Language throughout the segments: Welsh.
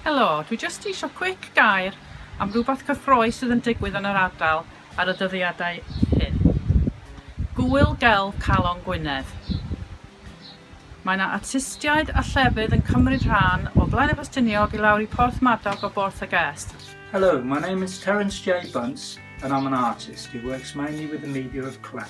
Helo, dwi jyst isio quick gair am rhywbeth cyffrous sydd yn digwydd yn yr ardal ar y dyddiadau hyn. Gŵyl Gelf Calon Gwynedd. Mae yna artistiaid a llefydd yn cymryd rhan o Blaenefestiniog i lawr i Porthmadog o Borth y Gest. Hello, my name is Terence J Bunce and I'm an artist who works mainly with the media of clay.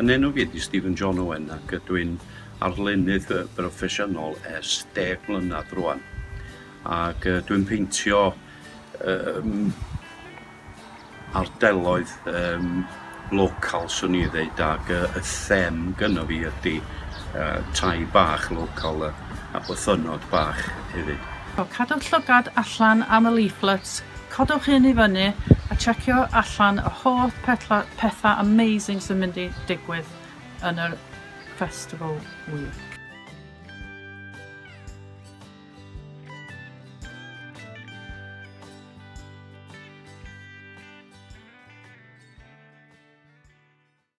Yn enw fi ydi Stephen John Owen ac ydw i'n arlunydd yy broffesiynol ers deg mlynedd rwan ac yy dwi'n peintio yym ardeloedd yym local swn i ddeud ac yy y them gynno fi ydi yy tai bach local yy a bythynnod bach hefyd. Cadwch llygad allan am y leaflets Codwch hyn i fyny a checio allan y holl pethau amazing sy'n mynd i digwydd yn yr Festival Week.